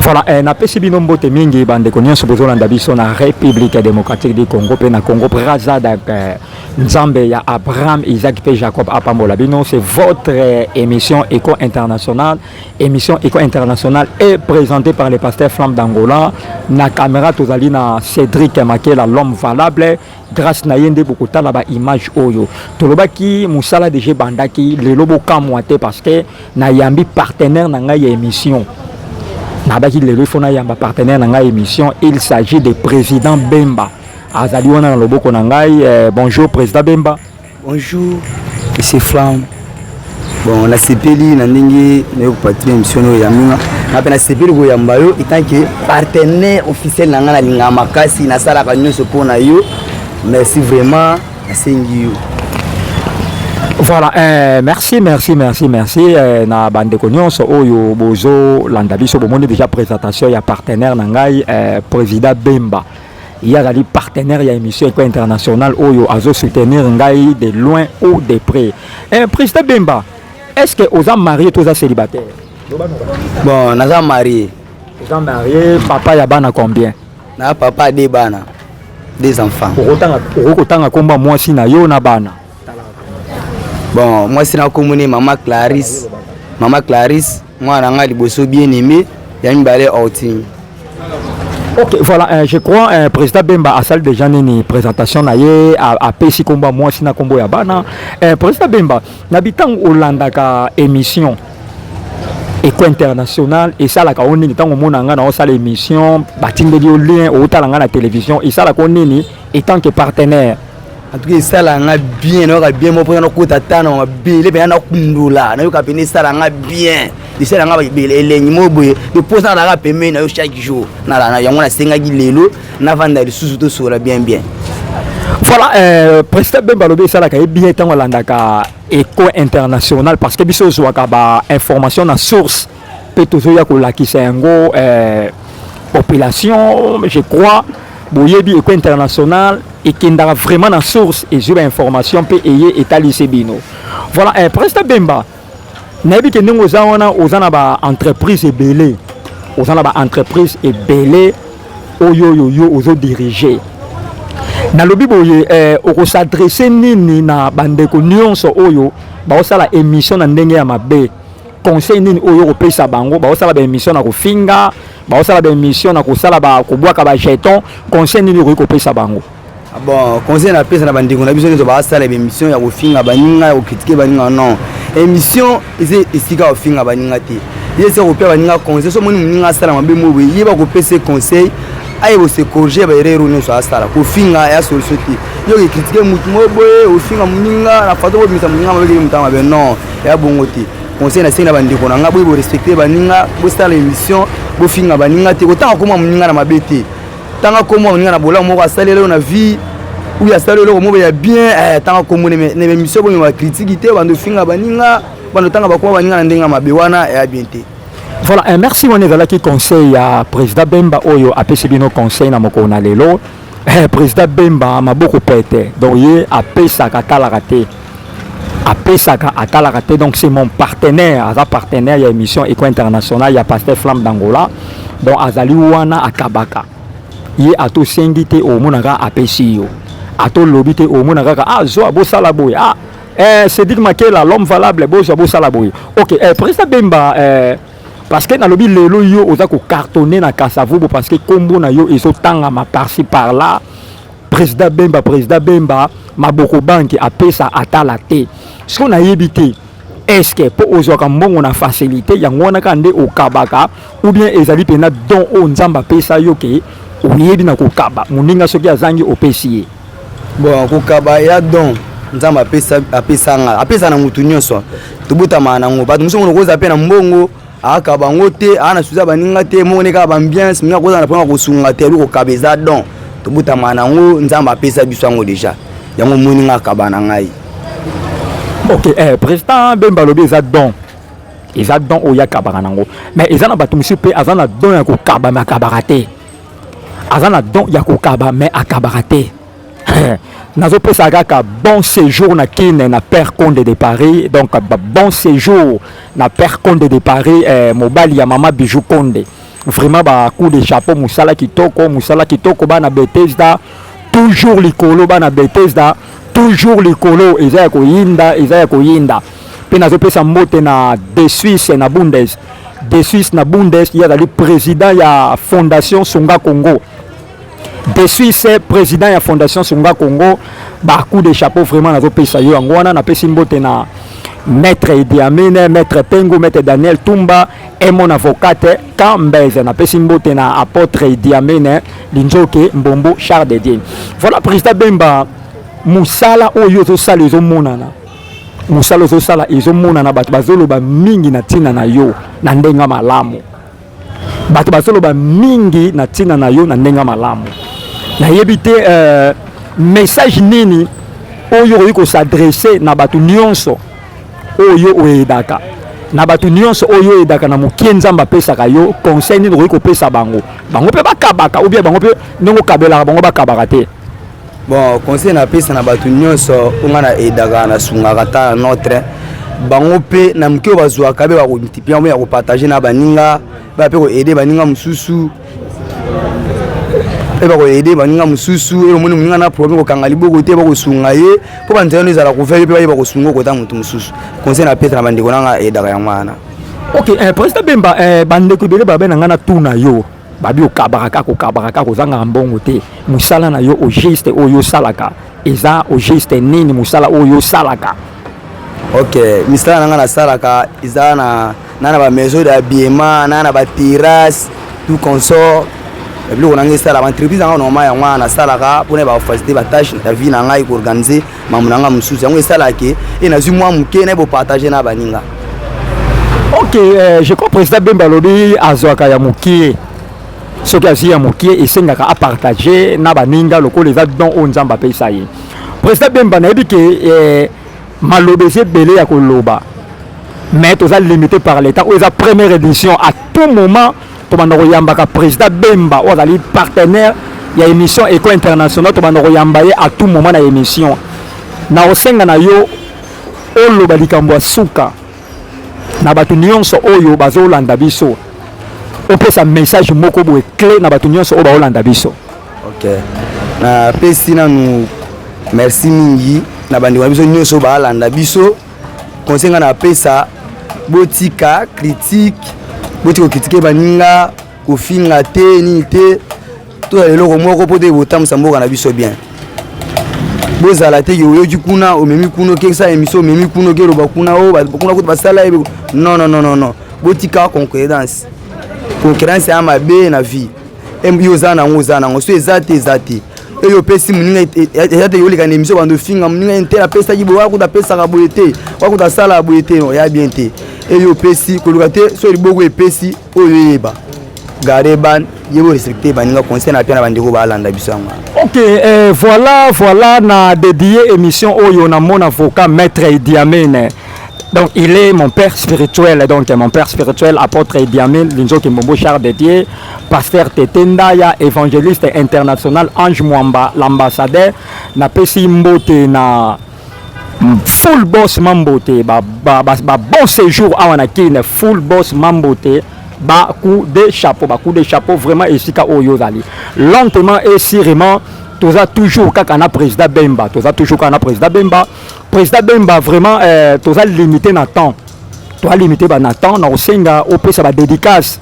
Voilà, eh, napesi bino mbote mingi bandeko nyonso bozolanda biso na République démocratique du Congo mpe na Congo Brazza donc eh, Nzambe ya Abraham, Isaac mpe Jacob apambola bino. C'est votre eh, émission Eco International. Émission Eco International est présentée par le pasteur Flamme d'Angola. Na caméra tozali na Cédric Makela l'homme valable. grace na ye nde bokotala ba image oyo tolobaki mosala deja ebandaki lelo bokamwa te parce que nayambi partenaire na ngai ya émission nabaki lelo ifo nayamba partenaire na ngai émission il s'agit de président bemba azali wana na loboko na ngai eh, bonjour président bemba Bonjour, Monsieur Flam. Bon, na sepeli na ndenge na yo patrie mission oyo ya minga. Na pe na sepeli ko yamba yo étant que partenaire officiel na nga na linga makasi na sala ka nyoso po na yo. Merci vraiment, na sengi yo. Voilà, eh, merci, merci, merci, merci. Eh, na bande cognos, oyo bozo landa biso, bomoni déjà présentation ya partenaire na ngai, eh, président Bemba. ye azali partenaire ya émission eko internationale oyo azo soutenir ngai de loin ou de près eh, président bemba est ce que oza marie to oza célibataire bon naza marie oza marie papa ya bana combien na papa de bana des enfants okoki kotanga nkombo ya mwasi na yo na bana bon mwasi na kombo ne mama clarisse mama clarisse mwana na ngai liboso bien aimé ya mibale ortini ok voilà euh, je crois euh, président bemba asali déjà nini présentation na ye apesi nkombo ya mwasi na nkombo ya bana euh, président bemba na bitango olandaka émission eko international esalaka o nini ntango omona ngai na osala émission batindeli yo lien outala ngai na télévision esalaka o nini etant que partenaire en tout cas esala nga bien nayoka bien moko mpona nakota ta na mabele mpena nakundola nayoka mpena esala nga bien esala nga elengi moko boye eposa nalaka pembeni na yo chaque jour yango nasengaki lelo navanda lisusu tosola bien bien voilà euh, président bemba alobi esalaka ye bien ntango alandaka eco international parce que biso ozwaka bainformation na source mpe tozoya kolakisa yango eh, population je crois boyebi eko international ekendaka vraiment na source ezwi bainformation mpe eye etalisi bino voilà eh, presta bemba nayebi ke ndenge oza wana oza na baentreprise ebele oza na baentreprise ebele oyo oyo yo ozodirige nalobi boye eh, okosadresse nini na bandeko nyonso oyo baosala émission na ndenge ya mabe conseil nini oyo okopesa bango baosala baémission na kofinga baosala baémission na kosala kobwaka bajeton conseil nini okoki kopesa bango ah bon conseil napesa na bandeko na biso nyonso basala baémission ya kofinga baninga ya kokritike baninga non émission eza esika kofinga baninga te ye eza kopesa baninga conseil so omoni moninga asala mabe moboye ye bakopesa conseil aye bose corriger baerreur oyo nyonso asala kofinga ya solution te yo okekritike motu moboye ofinga moninga na fato kobimisa moninga mabekeli motanga mabe non ya bongo te conseil na sengi na bandeko na nga boye borespecte baninga bosala émission bofinga baninga te kotanga koma moninga na mabe te tanga koma moninga na bolamu moko asalela yo na vie ou ya sala eloko moko ya bien eh, tanga kombo na emission boye bakritiki te bando finga baninga bando tanga bakoma baninga na ndenge ya mabe wana ya bien te voilà eh, merci wana ezalaki conseil ya président bemba oyo apesi bino conseil na mokolo na lelo Eh, président Bemba maboko pète. Donc ye apesaka atalaka te. Apesaka atalaka te. Donc c'est mon partenaire, aza partenaire ya émission Eco International ya Pasteur Flamme d'Angola. Donc azali wana akabaka. Ye ato sengi te omonaka apesi yo. Ato lobi te omonaka ka ah zo abosala boye. Ah eh Cédric Makela l'homme valable bozo abosala boye. OK, eh président Bemba eh Parce que nalobi lelo yo oza ko cartonner na Kasavubu parce que kombo na yo ezo tangama par-ci par-là. Président Bemba, président Bemba, maboko banki apesa atala te. Ce qu'on a évité, est-ce que po ozwaka mbongo na facilité yango wana kaka nde okabaka ou bien ezali mpena don oyo Nzambe apesa yo ke oyebi na kokaba moninga soki azangi opesi ye bon kokaba ya don nzambe apesanga apesa na motu nyonso tobotamaka nango bato mosusu mono koza mpe na mbongo aka bango te aa na suza baninga te moko ne kaka bambiance mingi akozala na mpona kosunga te eloko kaba eza don tobotamaka nango nzambe apesa biso yango deja yango omoni nga akaba na ngai ok eh, président bemba alobi eza don eza don oyo akabaka nango mais eza na bato mosusu mpe aza na don ya kokaba me akabaka te aza na don ya kokaba mais akabaka te nazopesa kaka bon séjour na kin na père conde de paris donc bon séjour na père conde de paris eh, mobali ya mama bijou conde vraiment ba coup de chapeau mosala kitoko mosala kitoko bana betesda toujours likolo bana betesda toujours likolo eza ya koyinda eza ya koyinda mpe nazopesa mbote na de suisse na bundes de suisse na bundes ye azali président ya fondation songa congo de suisse président ya fondation songa congo bacoup de chapeau vraiment nazopesa yo yango wana napesi mbote na maître Idi Amin, maître Pengu, maître Daniel Tumba et mon avocate Kambeze na pesi mbote na apôtre Idi Amin Linzoke Mbombo Charles de Dieu. Voilà président Bemba musala oyo ozosala ezomonana mosala ozosala ezomonana bato bazoloba mingi na ntina na yo na ndenge malamu bato bazoloba mingi na ntina na yo na ndenge malamu nayebi te uh, message nini oyo okoki kosadresse na bato nyonso oyo oyedaka na bato nyonso oyo oyedaka na mokie nzambe apesaka yo conseil nini okoki kopesa bango bango mpe bakabaka obia bango mpe ndenge okabelaka bango bakabaka te bon conseil na pesa na bato nyonso oyo ngai na edaka na sungaka ta na notre bango mpe na moke oyo bazwaka mpe bakomultiplie yango ya kopartage na baninga baya mpe koaide baninga mosusu mpe bakoaide baninga mosusu oyo omoni moninga na problème kokanga liboko te bakosunga ye mpo banzela no ezala kovele mpe bayeba kosunga okota motu mosusu conseil na pesa na bandeko nanga edaka yango wana ok eh, président bemba eh, bandeko ebele babe na ngai na tuna yo Babi okabaka kaka okabaka kaka ozangaka mbongo te mosala na yo ogiste oyo osalaka eza ogiste nini mosala oyo osalaka ok misala na ngai nasalaka eza na na na bamaison d'habillement na na baterrasse tout consort biloko na ngai esalaka entreprise na ngai normal yango wana nasalaka mpona bafacilite batâche na vie na ngai koorganize mamu na nga mosusu yango esalaka ke e nazwi mwa moke na bopartage na baninga ok euh, je crois président bemba alobi azwaka ya mokie soki azwi ya mokie esengaka apartage na baninga lokola eza don oyo nzambe apesa ye président bemba nayebi ke euh, maloba eza ebele ya koloba mais toza limité par l'état oyo eza première édition à tout moment tobanda koyambaka président bemba oyo azali partenaire ya émission eco international tobanda koyamba ye à tout moment na émission na kosenga na yo oloba likambo ya suka na bato nyonso oyo bazolanda biso opesa message moko boye clé na bato nyonso oyo baolanda biso ok napesi nanu merci mingi na bandeko na biso nyonso baalanda biso conseil nga na pesa botika critique botika kokritike baninga kofinga te nini te toya eloko moko mpo te botambusa mboka na biso bien bozala te oyoki kuna omemi kuna okekisa emission omemi kuna okeloba kuna o oh, kuna kutu basala ye non non non non botika concurrence concurrence ya mabe na vie yo oza nango oza nango so eza te eza te eyo opesi moninga eza te yoleka na emission bando ofinga moninga ye te apesaki boye wakuta apesaka boye te wakuta asalaka boye te no ya bien te eyo opesi koluka te so liboko epesi oyo eyeba garde ban ye borespecte baninga conseil na mpe na bandeko baalanda biso yango ok eh, voilà voilà na dedie émission oyo namona voka maître idiamene Donc il est mon père spirituel, donc mon père spirituel, apôtre Ediamil, Linzo Kimbombo, char de Dieu, pasteur Tetendaya, évangéliste international, Ange Mwamba, l'ambassadeur, na pesi mbote na full boss mambote, ba, ba, ba, ba bon séjour awa na Kin, full boss mambote, ba coup de chapeau, ba coup de chapeau, vraiment esika oyo zali. Lentement et sûrement, toza toujours kaka na président Bemba, toza toujours kaka na président Bemba, President Bemba vraiment eh, toza limité na temps toza limité ba na temps na kosenga opesa ba dédicace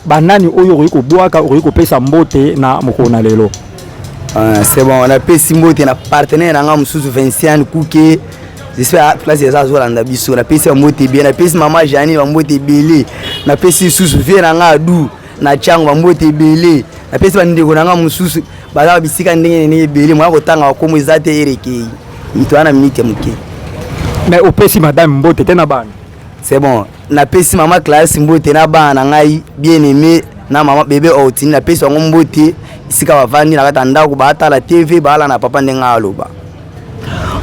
banani oyo okoki kobwaka okoki kopesa mbote na mokolo na lelo ah, c'est bon napesi mbote na partenaire na ngai mosusu vinciane kuke j'espère place eza azolanda biso napesi bambote ebele napesi mama jani bambote ebele napesi lisusu vie na ngai adu na tiango bambote ebele napesi bandeko na ngai mosusu baza na bisika ndenge na ndenge ebele moya kotanga bakomo eza te erekei mito wana minite moke mais opesi madame mbote te na bana c'est bon napesi mama classe mbote na bana na ngai bien aimé na mama bebe outini napesi yango mbote esika bavandi na kati ya ndako batala tv baala na papa ndenge aloba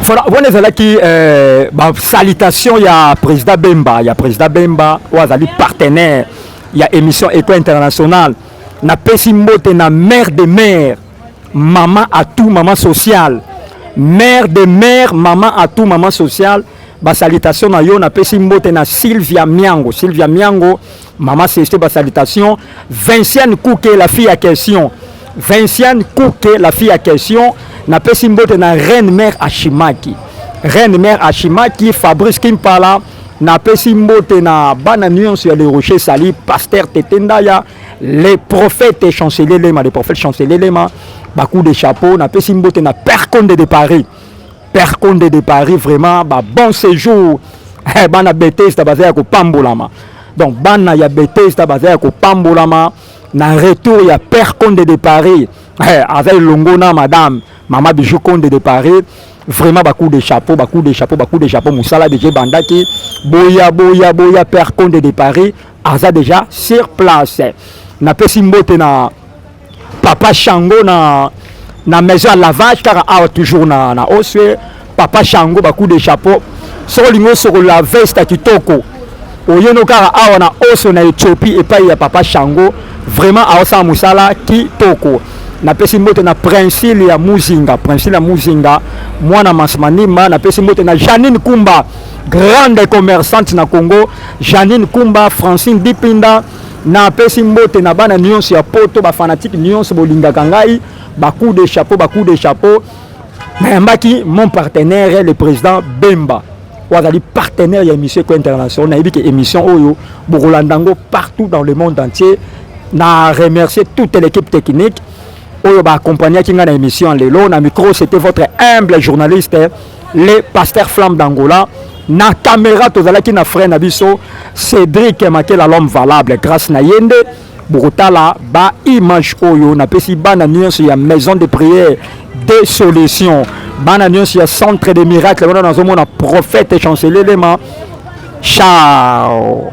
voilà wana ezalaki euh, basalitation ya président bemba ya président bemba oyo azali partenaire ya émission eco internationale Na pesi mbote na mère de mère, maman à tout maman sociale. Mère de mère, maman à tout maman sociale. Ba salutations na yo na pesi mbote na Sylvia Miango. Sylvia Miango, maman Ceste ba salutations. Vinciane Kouke la fille à question. Vinciane Kouke la fille à question. Na pesi mbote na reine mère Ashimaki. Reine mère Ashimaki, Fabrice Kimpala. Napesi mbote na bana nyonso ya Le Rocher Sali, Pasteur Tete Ndaya, le prophète chancelier Lema, le prophète chancelier Lema, ba coups de chapeau, napesi mbote na Père Conde de Paris. Père Conde de Paris vraiment ba bon séjour. Eh, bana Bethesda baza ya kopambolama. Donc bana ya Bethesda baza ya kopambolama na retour ya Père Conde de Paris. Eh, aza elongo na madame Mama Bijou Konde de Paris vraiment ba coup de chapeau ba coup de chapeau ba coup de chapeau musala déjà bandaki boya boya boya père Konde de Paris aza déjà sur place napesi mbote na papa Shango na na maison ya lavage kaka awa toujours na na oswe Papa Shango ba coup de chapeau. Soko lingo soko la veste kitoko. Oyeno kara awa na oso na Ethiopie epai ya Papa Shango. Vraiment aosa musala kitoko. napesi mbote na princile ya muzinga princile ya muzinga mwana masmanima napesi mbote na janine kumba grande commerçante na congo janine kumba francine dipinda napesi mbote na bana nyonso ya poto bafanatike nyonso bolingaka ngai bacoup de chapeau bacoup de chapeau nayambaki mon partenaire le président bemba oyo azali partenaire ya émission eko international nayebi ke émission oyo bokolanda yango partout dans le monde entier na remercier toute l'équipe technique oyo baakompagnaki ngai na émission lelo na micro c'était votre humble journaliste le pasteur flamme d'angola na caméra tozalaki na frère na biso cédric makela l'homme valable grâce na ye nde bokotala ba image oyo napesi bana nyonso ya maison de prière de solution bana nyonso ya centre de miracle wana nazomona prophète chancelier lema chao